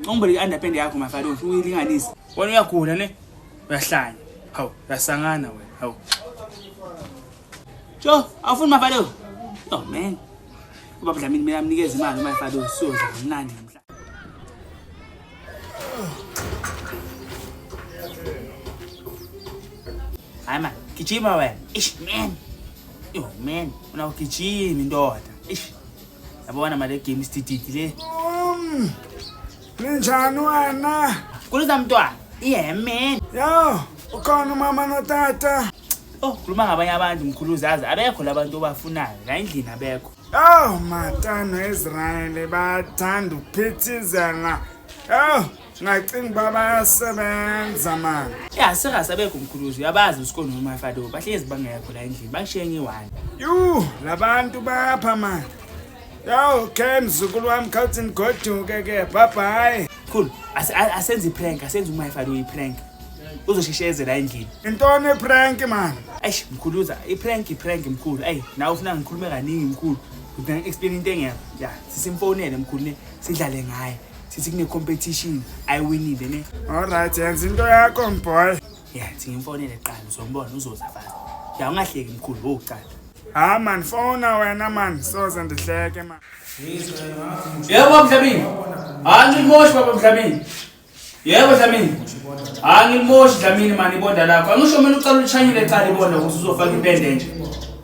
Ngicela i-underpant yakho mafalo ngifuna uyilinganise. Wena uyagula ne? Uyahlanya. Hawu, uyasangana wena. Hawu. Jo, awufuni mafalo? Oh man. Ubaba Dlamini mina amnikeza imali mafalo siyodla kamnandi namhla. Hayi man, gijima wena. Ish man. Yo man, unawugijima indoda. Ish. Yabona mali game istididi le. Um. Ninjani wena? Kuliza mntwana. Yeah man. Yo, ukhona umama notata. Oh, khuluma ngabanye abantu mkhuluzi azi abekho labantu obafunayo la endlini abekho. Oh, matano Israel bathanda ukuphithizela. Oh. ngacinga uba bayasebenza mani ya singasabekho mkhuluzi uyabazi usikoni nomafado bahlezi bangekho la endlini bashiye ngiwani yu labantu bapha mani yawu khe mzukulu wami khawuthi nigoduke ke bhabhayi khulu asenze iprank asenze umafado uyiprank uzoshishezela endlini intoni iprank mani eish mkhuluza iprank iprank mkhulu eyi nawe ufuna ngikhulume kaningi mkhulu udinga explain into engekho ya sisimfonele mkhulu ne sidlale ngaye sithi kune-competition ayiwinile ne olright yenza into yakho mboy ya thingimfonele kuqala uzombona uzoza fast ya ungahleki mkhulu wowucala ha man fona wena man soze ndihleke man yebo mhlabini hayi ngilimoshi baba mhlabini yebo dlamini hayi ngilimoshi dlamini mani ibonda lakho angisho mina ucala ulishanyile cala ibonda ukuthi uzofaka impende nje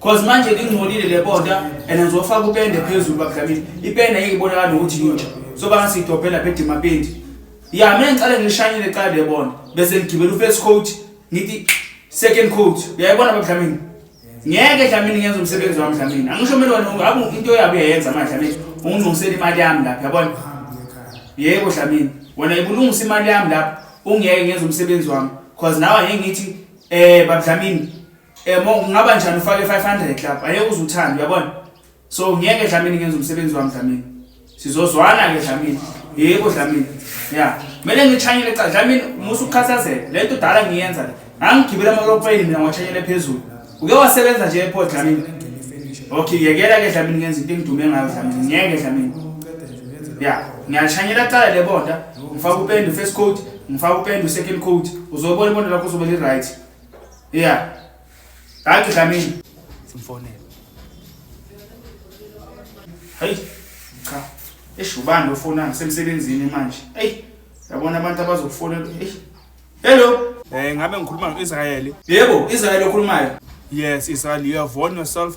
Cause manje lingcolile le bonda and ngizofaka upende phezulu bakudlamini. Ipende ngeke ibonakala nokuthi yintsha. So banga sidobhela phe dimapendi. Ya mina ngicela ngishanyile qala le bonda bese ngigibela ufirst coat ngithi second coat. Uyayibona bakudlamini? Ngeke dlamini ngenza umsebenzi wami dlamini. Angisho mina wena ungabe into yabo uyayenza manje dlamini. Ungilungisela imali yami lapha yabona. Yebo dlamini. Wena ibulungisa imali yami lapha ungeke ngenza umsebenzi wami. Cause nawe ngeke ngithi eh babudlamini Eh mo kungaba njani ufake 500 club aye uzuthanda uyabona. So ngeke Dlamini ngenza umsebenzi wami Dlamini. Sizozwana ke Dlamini. Yebo Dlamini. Yeah. Mele ngichanyele cha Dlamini musa ukukhathazeka. Lento udala ngiyenza le. Ngangigibela amalopeni mina ngwachanyele phezulu. Uke wasebenza nje ePort Dlamini. Okay yekela ke Dlamini ngenza into engidume ngayo Dlamini. Ngeke Dlamini. Yeah. Ngiyachanyela cala le bonda. Ngifaka upende first coat, ngifaka upende second coat. Uzobona ibonda lakho uzobe li right. Yeah. Danke Dlamini. Simfonele. Hayi. Cha. Eish ubani ofona ngisemsebenzini manje. Ey. Yabona abantu abazokufonela. Ey. Hello. Eh ngabe ngikhuluma no-Israyeli. Yebo, Israyeli okhulumayo. Yes, Israyeli, you have won yourself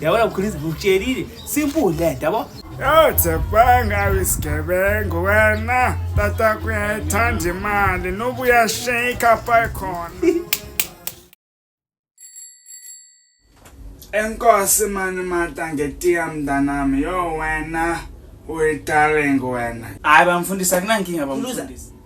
yabona mkhulisa ngitshelile simple lento yabo yawuthebanga isigebengu wena tata kuyayithanda imali noba uyasheyikha pha khona enkosi mani mata ngetiya mntanami yo wena uyitaleng wena hayi bamfundisa kunankinga bamfundisa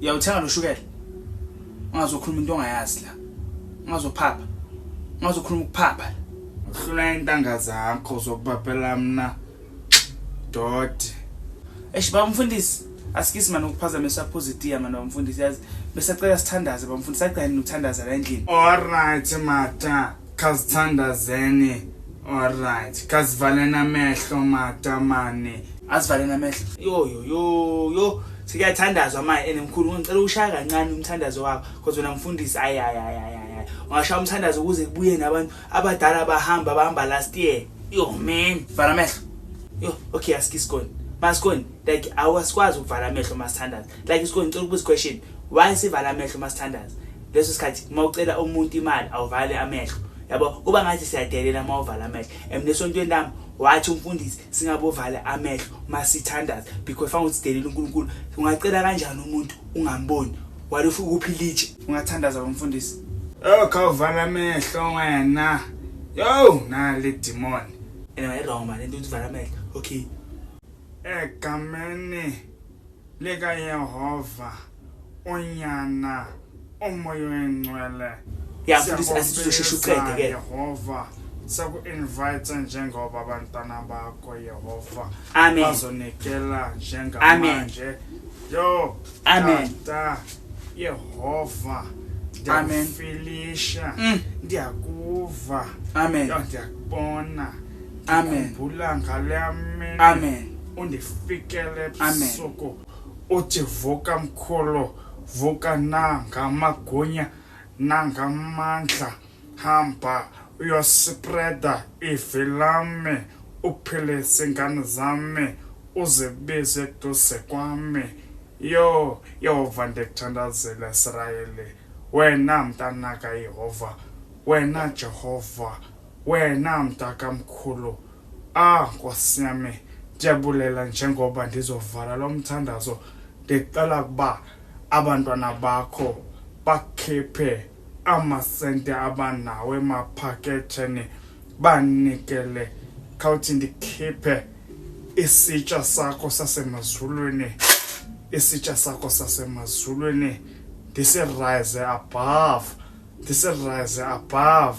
Uyawuthenga lo shukela. Ungazokhuluma into ongayazi la. Ungazophapha. Ungazokhuluma ukuphapha. Uhlula intanga zakho zokubabhela mina. Doti. Eish baba mfundisi, asikisi manje ukuphazamisa positive manje bamfundisi yazi besacela sithandaze bamfundisi agcine nokuthandaza la endlini. All right mata. Khazithandazeni alright kazivaleni amehlo matamane azivaleni amehlo yo yo yo yo sikuyathandazwa manje ene mkhulu ngicela ushaya kancane umthandazo wakho because wena mfundisi ayi ayi ayi ayi ungashaya umthandazo ukuze kubuye nabantu abadala bahamba bahamba last year yo man vala amehlo yo okay asikisikoni masikoni like awasikwazi ukuvala amehlo masithandaza like isikoni ngicela ukubuza question why sivala amehlo masithandaza leso sikhathi uma ucela umuntu imali awuvale amehlo yabo kuba ngathi siyadelela uma uvala amehlo and nesontweni lami wathi umfundisi singabovale amehlo uma sithandaza because fange ukuthi sidelela unkulunkulu ungacela kanjani umuntu ungamboni wale ufike ukuphila itshe ungathandaza umfundisi oh khawuvala amehlo wena yo nale dimoni and i wrong man into uvala amehlo okay egameni lika yehova unyana umoya oyingcwele Ya, mfundisi, asithi uzosheshe uqede ke. yehova seku-invite njengoba abantwana bakho yehova Amen. bazonikela Amen. njengamanje yo Amen. tata yehova Amen. ndiyakufilisha Mm. ndiyakuva Amen. yo ndiyakubona Amen. ndikhumbula ngale mini Amen. undifikele Amen. ebusuku Uthi vuka mkhulu vuka nangamagunya nangamandla hamba uyospreda ivi lami uphilise ingane zami uzibize eduze kwami yoo yehova ndikuthandazela israyeli wena mntanaka yehova wena jehova wena mntakamkhulu Ah Nkosi yami ndiyabulela njengoba ndizovala lo mthandazo ndicela ukuba abantwana bakho bakhiphe amasente abanawo emaphaketheni banikele khawuthi ndikhiphe isitsha sakho sasemazulwini isitsha sakho sasemazulwini ndisirayize above This is rise above.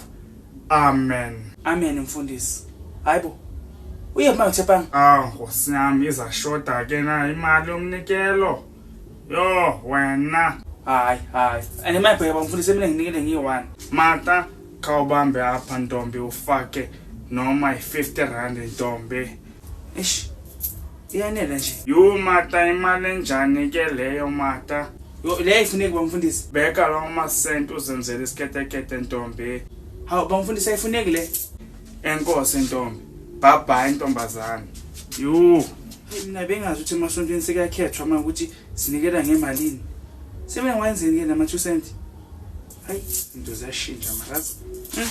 Amen. Amen mfundisi. Hayibo. Uye manje chepang. Ah, nkosi yami iza shoda ke na imali yomnikelo. Yo, wena. Hayi, hayi. Ane mayibheka bamfundisi mina nginikele ngiyi-1. Mata khawubambe apha ntombi ufake noma yi-50 rand ntombi. Eish. Iyanela nje. Yo mata imali enjani ke leyo mata. Yo leyo ifuneki bamfundisi. Bheka lawo masent uzenzela isiketekete ntombi. Hawu bamfundisi ayifuneki le. Enkosi ntombi. Bye bye ntombazane. Yo. Mina bengazi ukuthi emasontweni sekakhethwa uma ukuthi sinikela ngemalini. Sebengwenzeni ke nama 2 cent? Hayi, into ziyashintsha marazi. Hmm?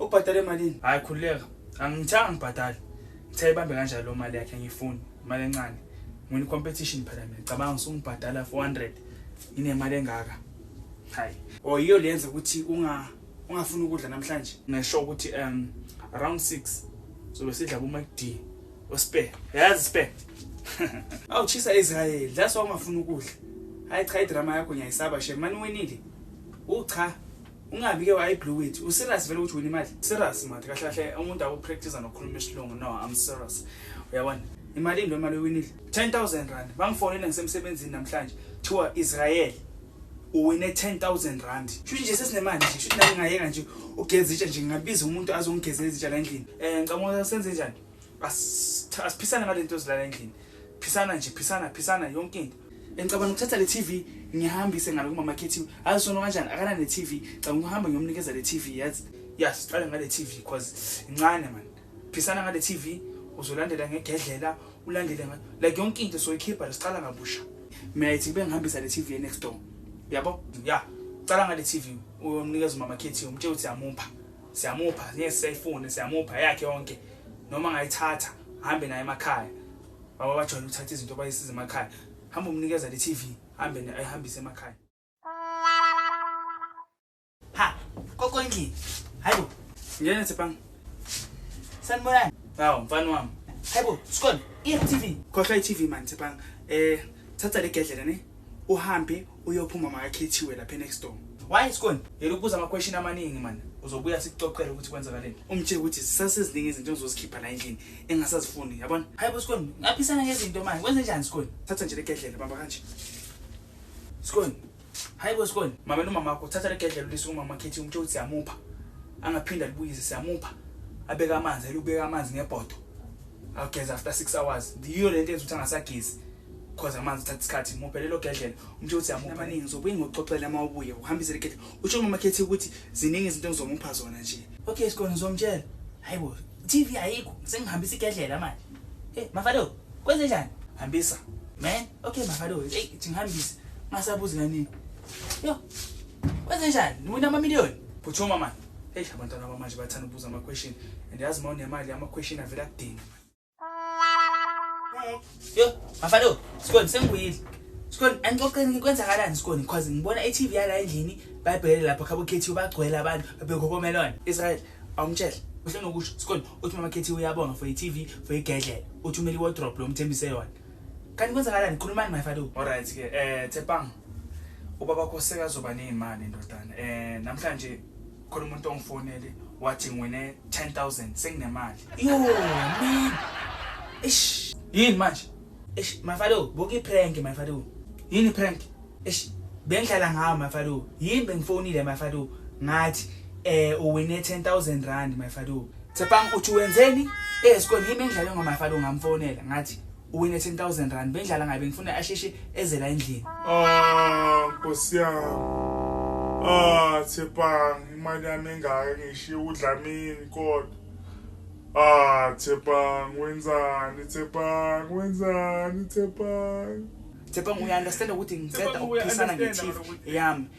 ubhadale malini hayi khululeka angithanga ngibhadale ngithe ibambe kanjalo lo mali yakhe ngiyifuni imali encane ngwini competition phela mina cabanga ngisungibhadala 400 nginemali engaka hayi o oh, yiyo lenza ukuthi unga ungafuni ukudla namhlanje ngisho ukuthi um around 6 sobe sidla kuma D ospare yazi spare awuchisa Israel that's why ungafuni ukudla hayi cha idrama yakho ngiyayisaba shemani winile ucha Ungabi ke wayi blue wit. U serious vele ukuthi wena imali? Serious manje kahle kahle umuntu awu practice nokukhuluma isilungu. No, I'm serious. Uyabona? Imali into imali ewinile. 10000 rand. Bangifonela ngisemsebenzini namhlanje. Kuthiwa Israel uwine 10000 rand. Shuthi nje sesinemali nje. Shuthi nami ngayeka nje ugeza itshe nje ngingabiza umuntu azongigezela izitsha la endlini. Eh ngicabanga senze njani? Asiphisane ngalento ezilala endlini. Phisana nje, phisana, phisana yonke into. Ngicabanga ukuthatha le TV ngihambise ngalo kumama Kethiwe. Hayi sono kanjani akana ne TV. Caba ngihamba ngiyomnikeza le TV yazi. Ya siqale ngale TV because incane man. Phisana ngale TV uzolandela ngegedlela ulandele nga like yonke into soyikhipha siqala ngabusha. Mina ithi kube ngihambisa le TV next door. Yabo? Ya. Cala ngale TV uyomnikeza umama Kethiwe umtshela ukuthi siyamupha. Siyamupha, ngeke siyayifune, siyamupha yakhe yonke. Noma ngayithatha, hambe naye emakhaya. Baba bajwayele ukuthatha izinto bayisize emakhaya. Hamba umnikeza le TV, hambe ne ayihambise emakhaya. Ha, koko endlini. Hayibo. Ngene Tsepang. Sanibonani. Hawu, mfana wami. Hayibo, Skon, i-TV. Khohlwa i-TV man Tsepang. Eh, thatha le gedlela ne. Uhambe Uyophuma makakhethiwe lapha enext door. Why Scon? Yela ukubuza ama question amaningi man. Uzobuya sikuxoxele ukuthi kwenzakaleni. Umtshele ukuthi zisaseziningi izinto engizozikhipha la endlini engasazifuni, yabona? Hayibo Scon, ngaphisana ngezinto manje. Kwenze njani Scon? Thatha nje legedlela bamba kanje. Scon. Hayibo Scon, mama nomama wakho thatha legedlela ulise umama Khethi umtshele ukuthi siyamupha. Angaphinda libuyise siyamupha. Abeka amanzi, elubeka amanzi ngebhodo. Ageza after 6 hours. Ndiyo lento ezothi angasagezi. Khoza amanzi thatha isikhathi muphe lelo gedlela umthe ukuthi yamupha amaningi ngizobuye ngikuxoxele uma ubuye uhambise le gedlela utsho umama khethi ukuthi ziningi izinto engizomupha zona nje okay sikona ngizomtshela hayi bo TV ayikho sengihambisa igedlela manje hey mafalo kwenze njani hambisa man okay mafalo hey ngihambise masabuzi kanini yo kwenze njani niwina ama million phuthuma manje hey abantwana bamanje bathanda ukubuza ama question and yazi mawunemali ama question avela kudinga yo mafado sikhona sengibuyile sikhona anixoxeni kwenzakalani sikhona because ngibona i-tv yala endlini bayibhekele lapha khabo khethiwe bagcwele abantu babekhokomelona israyeli awumtshele uhle nokusho sikhona uthi mama khethiwe uyabonga for i-tv for igedlela uthi umele iwodrop lo mthembise yona kanti kwenzakalani khulumani mafado olright ke um thepang ubaba kosekazoba neyimali ndodana um namhlanje khona umuntu ongifonele wathi ngiwine 10000 senginemali yo man ish yini manje ish mafalo buka iprank mafalo yini prank ish bengidlala ngawo mafalo yini bengifonile mafalo ngathi eh uwine 10000 rand mafalo Tsepang uthi wenzeni esikoleni yimi engidlale ngomafalo ngamfonela ngathi uwine 10000 rand bendlala ngabe ngifuna asheshe ezela endlini ah nkosi yami ah thepang imali yami engaka ngishiye udlamini kodwa ah thepang wenzani thepang wenzani thepang Thepang uya understand ukuthi ngiceda ukuphisana nge-teeth yami